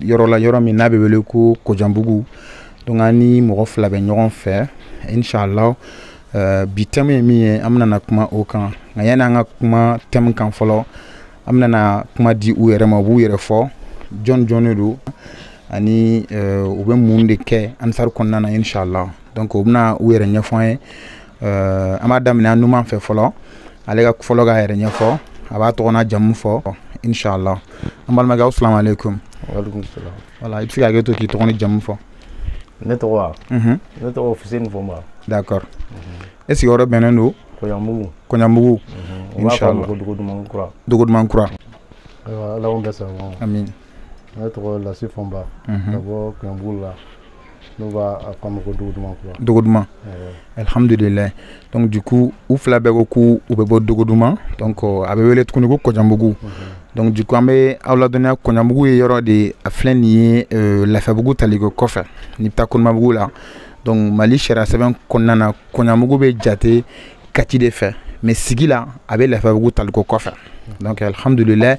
yɔrɔ la yɔrɔ min n'a bɛ wele ko kojanbugu donc an ni mɔgɔ fila bɛ ɲɔgɔn fɛ inshallah euh, bi thème ye min ye an bɛna kuma o kan nka yanni an ka kuma thème kan fɔlɔ an bɛna kuma di u yɛrɛ ma u b'u yɛrɛ fɔ jɔn jɔn de don ani euh, u bɛ mun de kɛ ansari kɔnɔna na inshallah donc u bɛna u yɛrɛ ɲɛfɔ an ye euh, an b'a daminɛ an numan fɛ fɔlɔ ale ka fɔlɔ k'a yɛrɛ ɲɛfɔ a b'a tɔgɔ n'a jamu fɔ inshallah an balimakɛ aw salamu aleykum walekum salam voilà i bɛ se ka hakɛ to k'i tɔgɔ n'i jamu fɔ ne tɔgɔ wa mhm. ne tɔgɔ fuseni fɔnba d'accord e sigiyɔrɔ bɛnnen don kɔɲamugu kɔɲamugu mhm. inshallah dogoduman kura dogoduman kura ayiwa ala k'o bɛɛ sababa amin ne tɔgɔ lasi fɔnba mhm. ka bɔ kɔɲanbugu la n'u b'a fɔ a ma ko dogoduman kura dogoduman alihamudulila donc du coup u fila bɛɛ ko k'u u bɛ bɔ dogoduman donc a bɛ wele tuguni ko kɔjanbugu mhm. donc du coup an bɛ aw ladɔnniya kɔɲanbugu ye yɔrɔ de a filɛ nin ye euh, lafiyabugu taliko kɔfɛ n'i bɛ taa konimabugu la donc mali sariya sɛbɛn kɔnɔna na kɔɲamugu bɛ jate kati de fɛ mais sigi la a bɛ lafiyabugu taliko kɔfɛ donc alhamdulilayi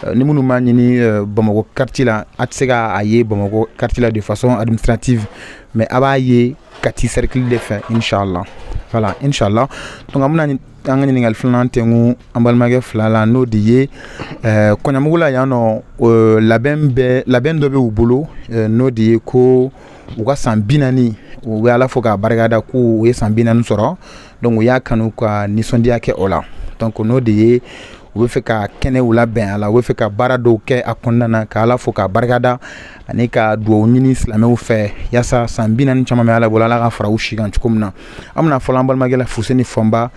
euh, ni minnu b'a ɲini euh, bamakɔ quartier la a tɛ se k'a ye bamakɔ quartier la de façon administrative mais a b'a ye kati cercle de fɛ inshallah voilà inshallah donc an bɛna an ka ɲininkali filanan tɛnku an balimakɛ fila la n'o de ye euh, kɔɲamugu la yan nɔ labɛn bɛ labɛn dɔ bɛ u bolo n'o de ye ko u ka san bi naani u bɛ ala fo k'a barikada k'u ye san bi naani sɔrɔ donc u y'a kanu ka nisɔndiya kɛ o la donc n'o de ye u bɛ fɛ ka kɛnɛw labɛn a la u bɛ fɛ ka baara dɔw kɛ a kɔnɔna na ka ala fo k'a barikada ani ka dugawu ɲini silamɛw fɛ yaasa san bi naani caman bɛ ala bolo ala k'a fara u si kan cogo min na an bɛna fɔlɔ an balimakɛ la fuseni fɔnba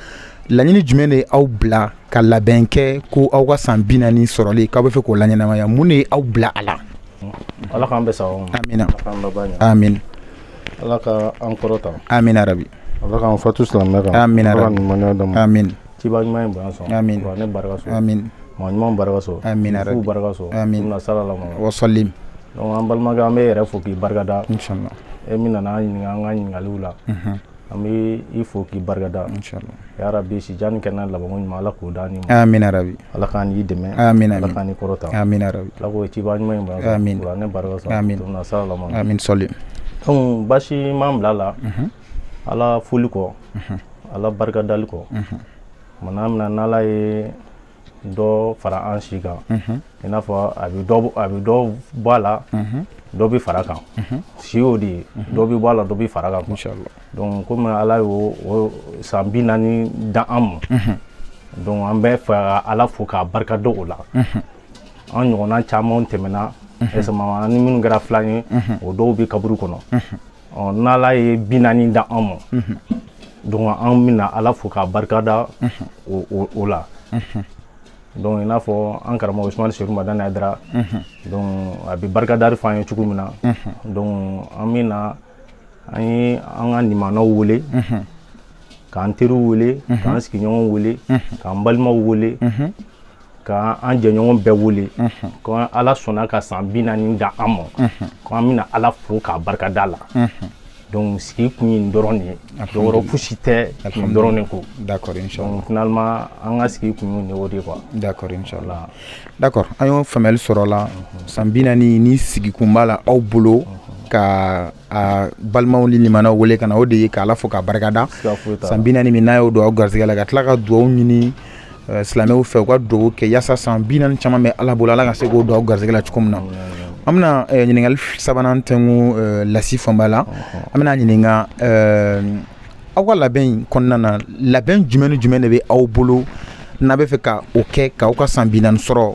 laɲini jumɛn de aw bila ka labɛn kɛ ko aw ka san bi naani sɔrɔli k'aw bɛ fɛ k'o laɲɛnamaya mun de ye aw bila a la ala k'an bɛ sa amina amin ala ka an kɔrɔta amina rabi ala k'an fatu silamɛya kan amina rabi ɲumanya dama amin ciba ɲuman in bonya sɔn amin ne barika sɔn amin maa ɲuman barika sɔn amina rabi fuu barika sɔn amin na sala la wa sallim donc an balimakɛ an b'i yɛrɛ fo k'i barika da inshallah e min nana an ɲininka an ka ɲininkaliw la an bɛ i fo k'i barikada yarabi si jan ni kɛnɛya labanko ɲuman ala k'o da ni bi ala k'an n'i dɛmɛ ala k'an n'i kɔrɔta ala ko ciba ɲuman ne barika sɔn sallim donc baasi m'an bila a la ala foli kɔ ala barika dali kɔ tuma' min na n' ye dɔ fara an si kan i n'a fɔ a bɛ dɔ a bɛ dɔ bɔ a la dɔ bɛ fara kan si y'o de ye dɔ bɛ bɔ a la dɔ bɛ fara kan quoi. Inch'Allah. donc komi ala y'o o san bi naani da an ma donc an bɛ fɛ ka ala fo k'a barika da o la an ɲɔgɔnna caman tɛmɛna ɛsɛma an ni minnu kɛra filan ye o dɔw bɛ kaburu kɔnɔ ɔ n'ala ye bi naani da an ma donc an bɛna ala fo k'a barikada o la donc i n'a fɔ an karamɔgɔ usumani serifu madani hayidara donc a bɛ barikadali fɔ an ye cogo min na donc an bɛna an ye an ka nimanaw wele k'an teriw wele k'an sigiɲɔgɔnw wele k'an balimaw wele ka an jɛɲɔgɔn bɛɛ wele ko ala sɔnna ka san bi naani da an ma ko an bɛna ala fo k'a barikada la donc sigi kun ye nin dɔrɔn de ye dɔ wɛrɛ fosi tɛ nin dɔrɔn de ko d'accord inchallah finalement an ka sigi kun ye nin o de quoi d'accord inchallah d'accord an y'o faamuyali sɔrɔ o la san bi naani ni sigikun b'a la aw bolo ka aw balimaw ni limanaw wele ka na o de ye k'Ala fo k'a barikada siga foyi t'a la san bi naani min n'a y'o don aw garisɛgɛ la ka tila ka duwawu ɲini eh, silamɛw fɛ u ka duwawu kɛ yaasa san bi naani caman bɛ Ala bolo Ala ka se k'o don aw garisɛgɛ la cogo min na an bɛna eh, ɲininkali f- sabanan tɛnku eh, lasi fanba la an bɛna ɲininka eh, aw ka labɛn in kɔnɔna na labɛn jumɛn ni jumɛn de bɛ aw bolo n'aw bɛ fɛ ka o kɛ k'aw ka san bi naani sɔrɔ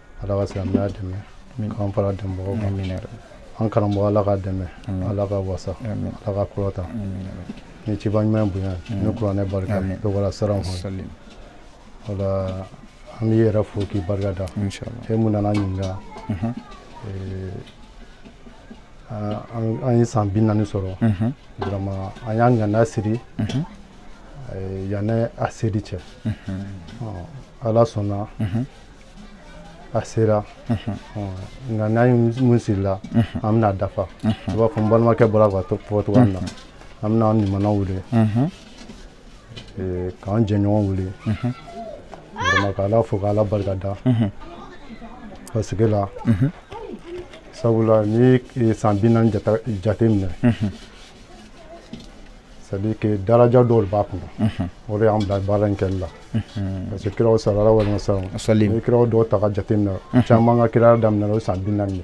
ala ka silamɛya dɛmɛ k'an fara dɛmɛbagaw kan an karamɔgɔ ala k'a dɛmɛ ala k'a wasa ala k'a kɔrɔta ni ciba ɲuman bonya ni kuranɛ barika bɛɛ wala siran kɔnɔ voilà an b'i yɛrɛ fo k'i barika da e mun nana an ɲininka an ye san bi naani sɔrɔ vraiment an y'an ŋaniya siri yanni a seli cɛ ala sɔnna a sera an ka ŋaniya mun sirila an bɛn'a dafa i n'a fɔ n balimakɛ bɔra k'a fɔ cogoya min na an bɛna an nimanaw wele k'an jɛɲɔgɔn wele vraiment ka ala fo ka ala barika da parce que la sabula ni san bi naani jate minɛ c'est-à-dire que daraja dɔw b'a kɔnɔ o de y'an bila baara in kɛli la parce que kira sallallahu alayhi wa sallam n'i kiraw dɔw ta k'a jate minɛ caman ka kiraya daminɛ o san bi naani de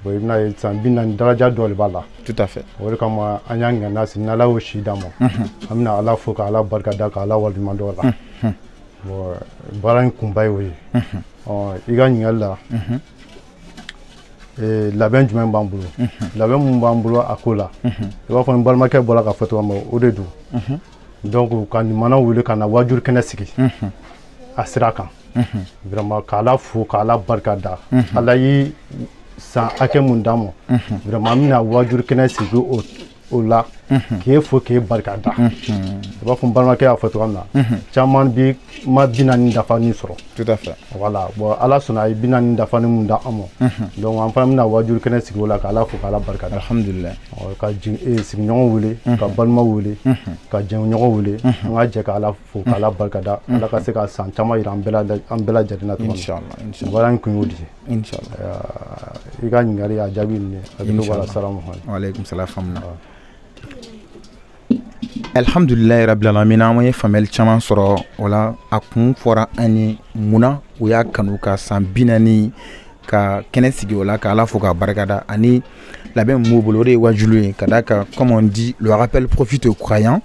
bon i bɛn'a ye san bi naani daraja dɔ de b'a la tout à fait o de kama an y'an ŋaniya siri ni ala y'o si d'an ma an bɛna ala fo ka ala barika da ka ala waleɲuman dɔn o la bon baara in kunba ye o ye i ka ɲininkali la ee, labɛn jumɛn b'an bolo labɛn mun b'an bolo a ko la i b'a fɔ n balimakɛ bɔra k'a fɔ cogoya min na o de don donc ka nimanaw wele ka na waajuri kɛnɛ sigi a sira kan vraiment k'ala fo k'ala barika da ala ye san hakɛ mun d'an ma vraiment an bɛna waajuri kɛnɛ sigi o o la k'e fo k'e barika da i b'a fɔ balimakɛ y'a fɔ cogoya min na caman bi ma bi naani dafani sɔrɔ voilà bon ala sɔnna a ye bi naani dafani mun da an ma donc an fana bɛna wajuru kɛnɛ sigi o la ka ala fo k'ala barika da ka e, sigiɲɔgɔn wele ka balima wele ka jɛɲɔgɔn wele an ka jɛ ka ala fo k'ala barika da ala ka se ka san caman jira an bɛɛ lajɛlen na inshallah baara in kun y'o de i ka ɲininkali a jaabi nin hakili b'a la salamu aleykum salam fɔnba alhamdulilayi rabbil alamin an ye faamuyali caman sɔrɔ o la a kun fɔra an ye munna u y'a kanu ka san bi naani ka kɛnɛ sigi o la ka ala fo k'a barikada ani labɛn min b'u bolo o de ye wajulu ye ka da kan comme on dit le rappel profite aux croyants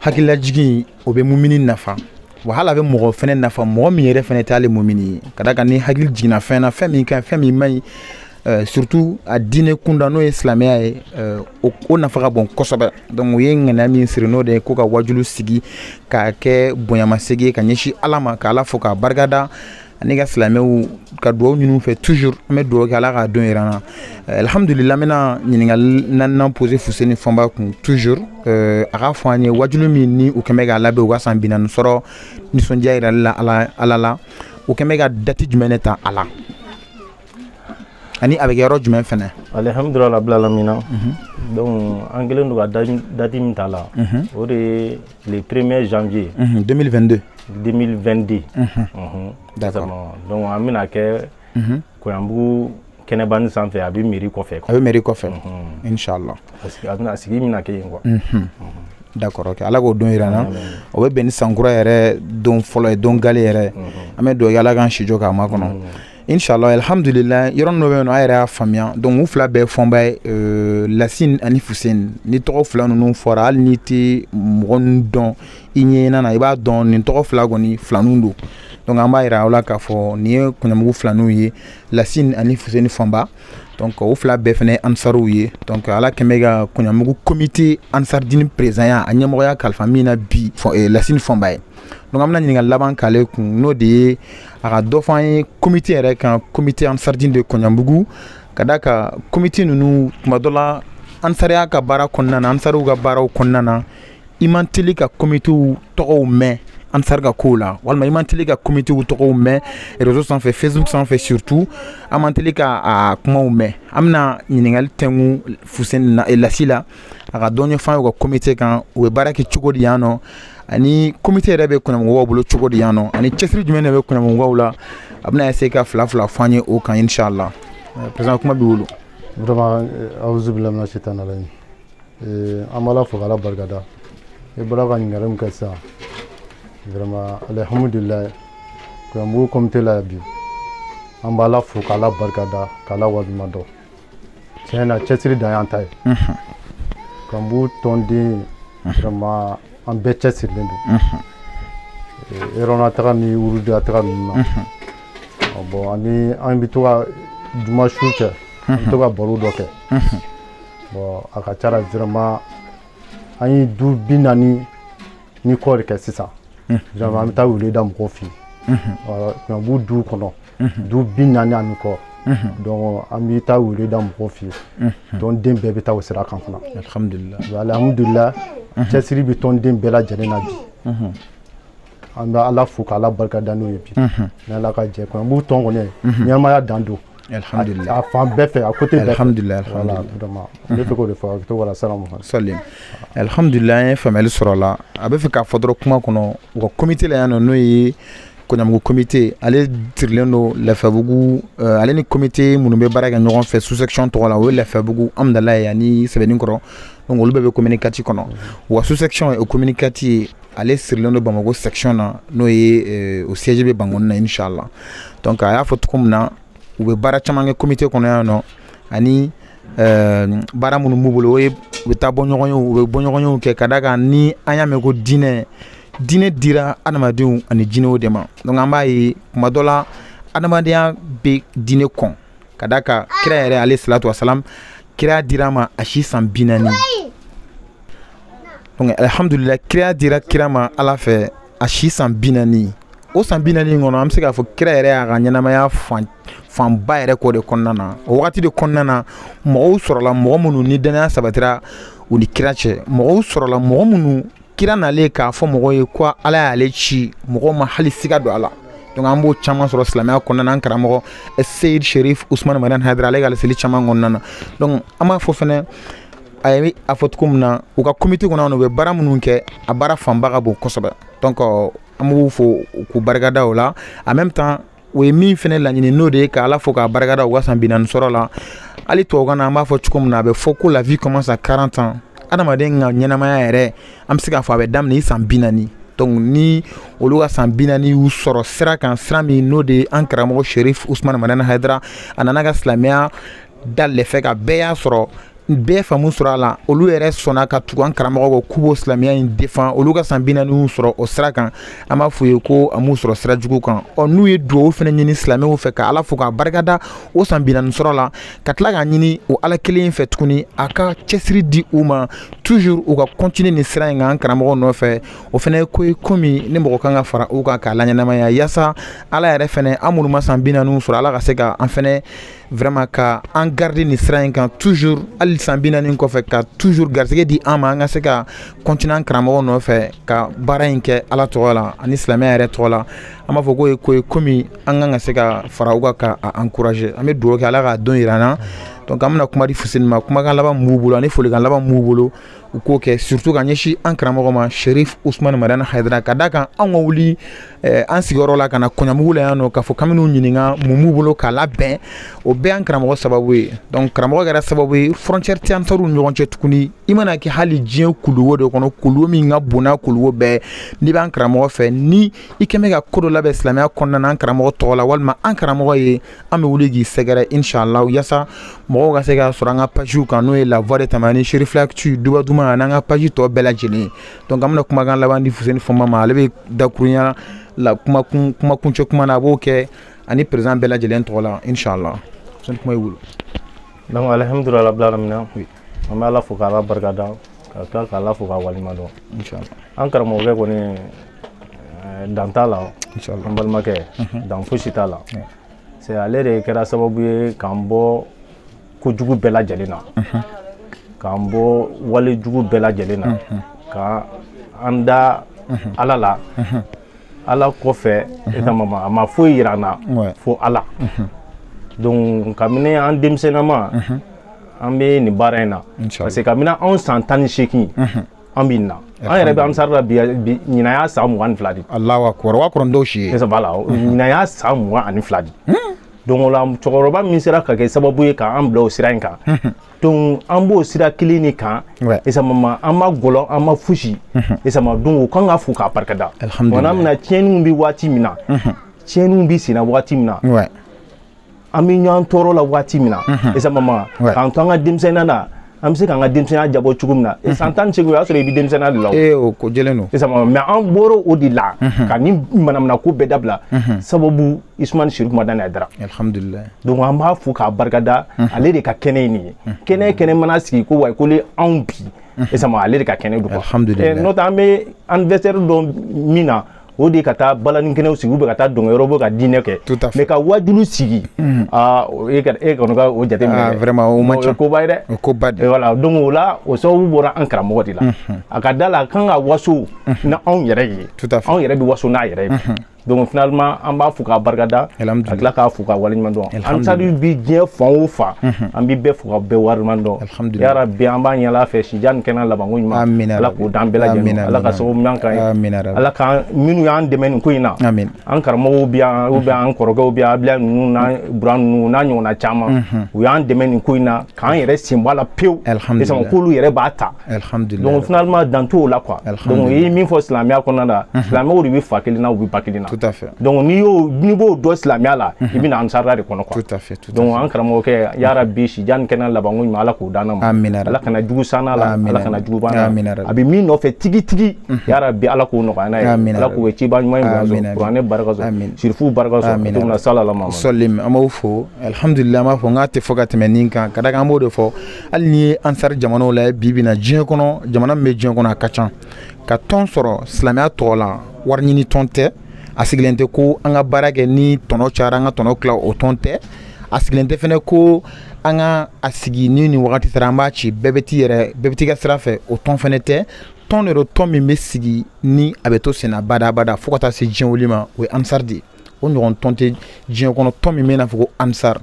hakililajigin o bɛ mumini nafa wa hali a bɛ mɔgɔ fɛnɛ nafa mɔgɔ min yɛrɛ fɛnɛ t'ale mumini ye ka da kan ni hakili jiginna fɛn na fɛn min ka ɲi fɛn min man ɲi euh, surtout a diinɛ kunda n'o ye silamɛya ye euh, o nafa ka bon kosɛbɛ donc u ye ŋaniya min siri n'o de ye ko ka wajulu sigi k'a kɛ bonyamasegi ye ka ɲɛsin ala ma ka ala fo k'a barikada ani ka silamɛw ka dugawu ɲin'u fɛ toujours an bɛ dugawu kɛ ala k'a don yira an na eh, alhamdulila n bɛna ɲininkali naaninan pose fuseni fɔnba kun toujours eh, a k'a fɔ an ye wajulu min ni u kɛn bɛ k'a labɛn u ka san binani sɔrɔ nisɔndiya yirali la ala la u kɛn bɛ ka dati jumɛn ne ta a la ani a bɛ kɛ yɔrɔ jumɛn fɛnɛ alhamdulila rabbil alamin mhm. donc an kɛlen don ka dati min ta la mhm. o de ye le 1er janvier. 2022. 2022. d'accord donc an bɛna kɛ. koyanbugu kɛnɛbani sanfɛ a bɛ mairie kɔfɛ. a bɛ mairie kɔfɛ. inshallah. parce que a bɛna sigi bɛna kɛ yen quoi. d'accord ok ala k'o don yira an na o bɛ bɛn ni sankura yɛrɛ don fɔlɔ ye don gale yɛrɛ an bɛ dugawu kɛ ala k'an si jɔ k'a makɔnɔ. inshallah alhamdulillah yɔrɔnin dɔ bɛ yen nɔ a yɛrɛ y'a faamuya donc u fila bɛɛ fɔnba ye euh, lasine ani fuseni ni tɔgɔ fila ninnu fɔra hali n'i tɛ mɔgɔ ninnu dɔn i ɲɛɲinan na i b'a dɔn nin tɔgɔ fila kɔni filaninw don donc an b'a yira aw la k'a fɔ nin ye koyanbugu filaninw ye lasine ani fuseni fɔnba donc o fila bɛɛ fana ye ansariw ye donc ala kɛn bɛ ka koyanbugu komite ansaridini perezidanya a ɲɛmɔgɔya kalifa min na bi eh, lasine fɔnba ye donc an bɛna ɲininkali laban k'ale kun n'o de ye a ka dɔ fɔ an ye komite yɛrɛ kan komite ansardin de koɲanbugu ka da kan komite ninnu tuma dɔ la ansariya ka baara kɔnɔna na ansariw ka baaraw kɔnɔna na i man teli ka komitew tɔgɔw mɛn ansari ka kow la walima i man teli ka komitew tɔgɔw mɛn rezo sanfɛ facebook sanfɛ surtout an man teli ka a kumaw mɛn an bɛna ɲininkali tɛngu fuseni na lasi la a ka dɔ ɲɛfɔ an ye u ka komite kan u bɛ baara kɛ cogo di yan nɔ ani komite yɛrɛ bɛ koɲanbugukaw bolo cogo di yan nɔ ani cɛsiri jumɛn de bɛ koɲanbugukaw la a bɛna se ka fila fila fɔ an ye o kan inshallah président kuma b'i bolo vraiment awuzu billahi mina shaitan rajim an b'ala fo k'ala barikada i bɔra ka ɲininkali min kɛ sisan vraiment alhamdulilayi koɲanbugu komite la bi an b'ala fo k'ala barikada k'ala waleɲuman dɔn tiɲɛ na cɛsiri dan y'an ta ye koɲanbugu tɔnden vraiment an bɛɛ cɛsirilen don réunion na taga ni wurudi la taga ninnu na bon ani an bɛ to ka juma su kɛ an bɛ to ka baro dɔ kɛ bon a ka ca la vraiment an ye du bi naani ni kɔ de kɛ sisan vraiment an bɛ taa wele da mɔgɔw fɛ yen koɲanbugu du kɔnɔ du bi naani ani kɔ donc an bɛ taa wele da mɔgɔw fɛ yen tɔnden bɛɛ bɛ taa o sira kan fana alihamudulila cɛsiri bɛ tɔnden bɛɛ lajɛlen na bi an bɛ ala fo ka ala barika da n'o ye bi ni ala ka jɛ koɲanbugu tɔn kɔni ɲɛnamaya dan don alihamudulila a fan bɛɛ fɛ a kote bɛɛ alihamudulila alihamudulila n bɛ fɛ k'o de fɔ a bɛ to wala salamu salim alihamudulila an ye faamuyali sɔrɔ a la a bɛ fɛ k'a fɔ dɔrɔn kuma kɔnɔ u ka komite la yan nɔ n'o ye koɲanbugu komite ale sirilen don lafiyabugu eh, ale ni komite minnu bɛ baara kɛ ɲɔgɔn fɛ sous-section tɔgɔ la o ye lafiyabugu hamdalayi ani sɛbɛninkɔrɔ donc olu bɛɛ bɛ commune quatre kɔnɔ wa sous-section o commune quatre ye ale sirilen don bamako section na n'o ye eh, o siège bɛ bankoni na inchallah donc a y'a fɔ cogo min na u bɛ baara caman kɛ komite kɔnɔ yan nɔ ani Ɛɛ baara minnu b'u bolo o ye u bɛ taa bɔ ɲɔgɔn ye u bɛ bɔɲɔgɔnyew kɛ ka da kan ni an y'a mɛn ko diinɛ diinɛ dira adamadenw ani jinɛw de ma donc an b'a ye kuma dɔ la adamadenya bɛ diinɛ kɔn ka da kan kira yɛrɛ aleyi salatu wasalam kiraya dira a ma a si san bi naani alihamdulila kiraya dira kira ma ala fɛ a si san bi naani o san bi naani kɔnɔ an bɛ se k'a fɔ kira yɛrɛ y'a ka ɲɛnamaya fan fanba yɛrɛ k'o de kɔnɔna na o wagati de kɔnɔna na mɔgɔw sɔrɔla mɔgɔ minnu ni dannaya sabatira u ni kira cɛ mɔgɔw sɔrɔla mɔgɔ minnu kira nalen k'a fɔ mɔgɔw ye ko ala y'ale ci mɔgɔw ma hali siga don a la donc an b'o caman sɔrɔ silamɛya kɔnɔna na an karamɔgɔ seyid sherif usman madani hayidara ale ka laseli caman kɔnɔna na donc an b'a fɔ fɛnɛ a ye a fɔ cogo min na u ka comité kɔnɔ yan u bɛ baara minnu kɛ a baara fanba ka bon kosɛbɛ donc an b'u fo k'u barikada o la en même temps o ye min fana laɲini n'o de ye ka ala fo k'a barikada u ka san bi naani sɔrɔ la hali tubabukan na an b'a fɔ cogo min na a bɛ fɔ ko la vie commence à 40 ans adamaden ka ɲɛnamaya yɛrɛ an bɛ se k'a fɔ a bɛ daminɛ i san bi naani donc ni olu ka san bi naani y'u sɔrɔ sira kan sira min n'o de ye an karamɔgɔ sherif usman madani hayidara a nana ka silamɛya dale fɛ ka bɛɛ y'a sɔrɔ bɛɛ faamu sɔrɔ a la olu yɛrɛ sɔnna ka tugu an karamɔgɔ kɔ k'u b'o silamɛya in défendre olu ka san bi naani y'u sɔrɔ o sira kan an b'a f'u ye ko a m'u sɔrɔ sira jugu kan ɔ n'u ye duwawu fana ɲini silamɛw fɛ ka ala fo k'a barikada o san bi naani sɔrɔ la ka tila k'a ɲini o ala kelen fɛ tuguni a ka cɛsiri di u ma toujours u ka continuer nin sira in kan an karamɔgɔ nɔfɛ o fana ye ko ye ko min ni mɔgɔ kan ka fara u kan k'a laɲɛnamaya yaasa ala yɛrɛ fana an minnu ma san bi naani sɔrɔ ala ka se ka an fana vraiment ka an garder nin sira in kan toujours hali san bi naani kɔfɛ ka toujours garisɛgɛ di an ma an ka se ka continuer an karamɔgɔ nɔfɛ ka baara in kɛ ala tɔgɔ la ani silamɛya yɛrɛ tɔgɔ la an b'a fɔ k'o ye ko ye komi an kan ka se ka fara u kan ka a encourager an bɛ dugawu kɛ ala k'a don yira an na donc an bɛna kuma di fuseni ma kumakan laban min b'u bolo ani folikan laban min b'u bolo u k'o kɛ surtout ka ɲɛsin an karamɔgɔ ma sherif usman madani haidara ka d'a kan an ka wuli eh, an sigiyɔrɔ la ka na koɲamugu la yan nɔ k'a fɔ k'an bɛn'u ɲininka mun b'u bolo k'a labɛn o bɛɛ y'an karamɔgɔ sababu ye donc karamɔgɔ kɛra sababu ye frontière tɛ ansaruw ɲɔgɔn cɛ tuguni i mana kɛ hali diɲɛ kuluwo de kɔnɔ kuluwo min ka bon n'a kuluwo bɛɛ n'i b'an karamɔgɔ fɛ ni i k'e bɛ ka ko dɔ labɛn silamɛya kɔnɔna na an karamɔgɔ tɔgɔ la walima an karamɔgɔ ye an bɛ wuli k'i sɛgɛrɛ inshallah yasa mɔgɔw ka se k'a sɔrɔ an ka pajiw kan n'o ye la voix de tamani sherifla actu duba duman an'an ka paji tɔ bɛɛ lajɛlen donc an bɛna kumakan laban di fuseni fɔnba ma ale bɛ dakurunya la kumakun kumakuncɛ kuma na a b'o kɛ ani président bɛɛ lajɛlen tɔgɔ la inshallah fuseni kuma y'i bolo donc alhamdulillah rabbil alamin an bɛ ala fo k'ala barika da ka tila k'ala fo k'a waleɲumandɔn an karamɔgɔkɛ kɔni eh, dan t'a la an balimakɛ mhm. dan fosi t'a la c'est ale de kɛra sababu ye k'an bɔ ko jugu bɛɛ lajɛlen na mhm. k'an bɔ wale jugu bɛɛ lajɛlen na mhm. ka an da ala la ala kɔfɛ exactement a ma foyi yira an na fo ala donc kabini an denmisɛnnama an bɛ nin baara in na parce que kabini anw san tan ni seegin an bɛ nin na an yɛrɛ bɛ ansaru la bi ɲinan y'a san mugan ni fila de allahu akbar o ka kɔrɔ ni dɔw si ye voilà ɲinan y'a san mugan ani fila de donc o la cɛkɔrɔba min sera ka kɛ sababu ye k'an bila o sira in kan donc an b'o sira kelen de kan exactement an ma gɔlɔn an ma fosi exactement donc o kan ka fo k'a barikada tuma min na tiɲɛniw bɛ waati min na tiɲɛniw bɛ senna waati min na an bɛ ɲɔgɔn tɔɔrɔ la waati min na en ce moment k'an to an ka denmisɛnninya na an bɛ se k'an ka denmisɛnninya jabɔ cogo min na san tan ni seegin o y'a sɔrɔ i bɛ denmisɛnninya de la o ko jɛlen don en ce moment mais an bɔra o de la ka nin manamana ko bɛɛ dabila sababu usumani sherif madani haidara alhamdulilayi donc an b'a fo k'a barikada ale de ka kɛnɛ ye nin ye kɛnɛ kɛnɛ mana sigi ko wayi ko le anw bi ale de ka kɛnɛ don alhamdulilayi n'o tɛ an bɛ anniversaire dɔn min na o de ka taa balani kɛnɛw sigi ou bien ka taa dɔnkɛ yɔrɔ ou bien ka dîner kɛ mais ka wajulu sigi e kɔni ka o jateminɛ koba ye dɛ o koba de voilà donc o la o sababu bɔra an karamɔgɔ de la a ka da la a kan ka waso ni anw yɛrɛ ye anw yɛrɛ bɛ waso n'a yɛrɛ ye donc finalement an b'a fo k'a barikada ka tila k'a fo k'a waleɲuman dɔn ansari bɛ diɲɛ fan o fan an bɛ bɛɛ fo ka bɛɛ waleɲuman dɔn ya rabbi an b'a ɲini ala fɛ si jan ni kɛnɛ labanko ɲuman ala k'o d'an bɛɛ lajɛlen ala ka sababu ɲuman k'an ye ala ka minnu y'an dɛmɛ nin ko in na an karamɔgɔw bɛ yan ou bien an kɔrɔkɛw bɛ yan abulayi ninnu n'a bura ninnu n'a ɲɔgɔnna caman u y'an dɛmɛ nin ko in na k'an yɛrɛ sen bɔ a la pewu sɔn k'olu yɛrɛ b'a ta donc finalement dan t'o la quoi donc i ye min fɔ silamɛya kɔnɔna la silamɛw de bɛ fa kelen na u bɛ ba kelen na donc n'i y'o n'i b'o dɔn silamɛya la i bɛ na ansardine de kɔnɔ quoi donc an karamɔgɔkɛ ya rabbi si jan ni kɛnɛ labanko ɲuman ala k'o d'a ma ala kana jugu s'a la ala kana jugu ban a bɛ min nɔfɛ tigitigi ya rabbi ala k'o nɔgɔya n'a ye ala k'o ciba ɲuman kuranɛ barika sirifu barika na salalama sɔlim an b'o fo alihamudulila an b'a fɔ nk'a tɛ fɔ ka tɛmɛ nin kan ka da a kan an b'o de fɔ hali n'i ye ansari jamanaw lajɛ bi bi in na diɲɛ kɔnɔ jamana min bɛ diɲɛ kɔnɔ a ka ca ka tɔn sɔrɔ silamɛya tɔgɔ la wari ɲini tɔn tɛ a sigilen tɛ ko an ka baara kɛ ni tɔnɔ cayara an ka tɔnɔ tila o tɔn tɛ a sigilen tɛ fɛnɛ ko an ka a sigi ni nin wagati sera an b'a ci bɛɛ bɛ t'i yɛrɛ bɛɛ bɛ t'i ka sira fɛ o tɔn fɛnɛ tɛ tɔn de don tɔn min bɛ sigi ni a bɛ to senna badabada fo ka taa se diɲɛ wuli ma o ye ansar de ye o ɲɔgɔn tɔn tɛ diɲɛ kɔnɔ tɔn min bɛ n'a fɔ ko ansar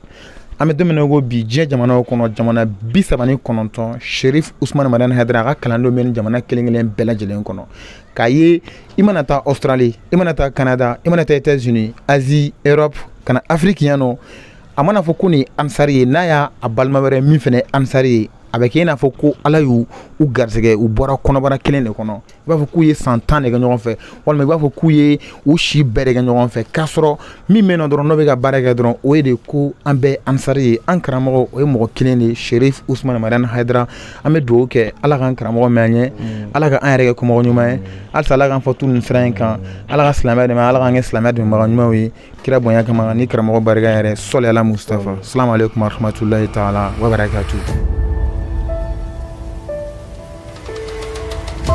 an bɛ don min na ko bi diɲɛ jamanaw kɔnɔ jamana bi saba ni kɔnɔntɔn sherif usumani madani haidara a ka kalandenw bɛ nin jamana kelen kelen bɛɛ lajɛlen kɔnɔ k'a ye i mana taa australie i mana taa canada i mana taa états unis asie europe ka na afiriki yan nɔ a mana fɔ ko nin ansari ye n'a y'a balima wɛrɛ min fɛnɛ ansari ye a bɛ kɛ i n'a fɔ ko ala y'u garisɛgɛ u bɔra kɔnɔbara kelen de kɔnɔ i b'a fɔ k'u ye san tan de kɛ ɲɔgɔn fɛ walima i b'a fɔ k'u ye u si bɛɛ de kɛ ɲɔgɔn fɛ k'a sɔrɔ min bɛ yen nɔ dɔrɔn n'o bɛ ka baara kɛ dɔrɔn o ye de ko an bɛɛ ansari ye an karamɔgɔ o ye mɔgɔ kelen de sherif usumani madani haidara an bɛ dugawu kɛ ala k'an karamɔgɔ mɛn an ɲɛ mm. ala ka an yɛrɛ kɛ kɔmɔgɔ ɲuman ye halisa ala k'an fɔ tu nin sira in kan mm. ala ka silamɛya dɛmɛ ala k'an kɛ silamɛya dɛmɛbaga ɲumanw ye kira bonya kama ni karamɔgɔ barika yɛrɛ sɔli ala mustafa salamu aleykum warahmatulahi taala wabarakatu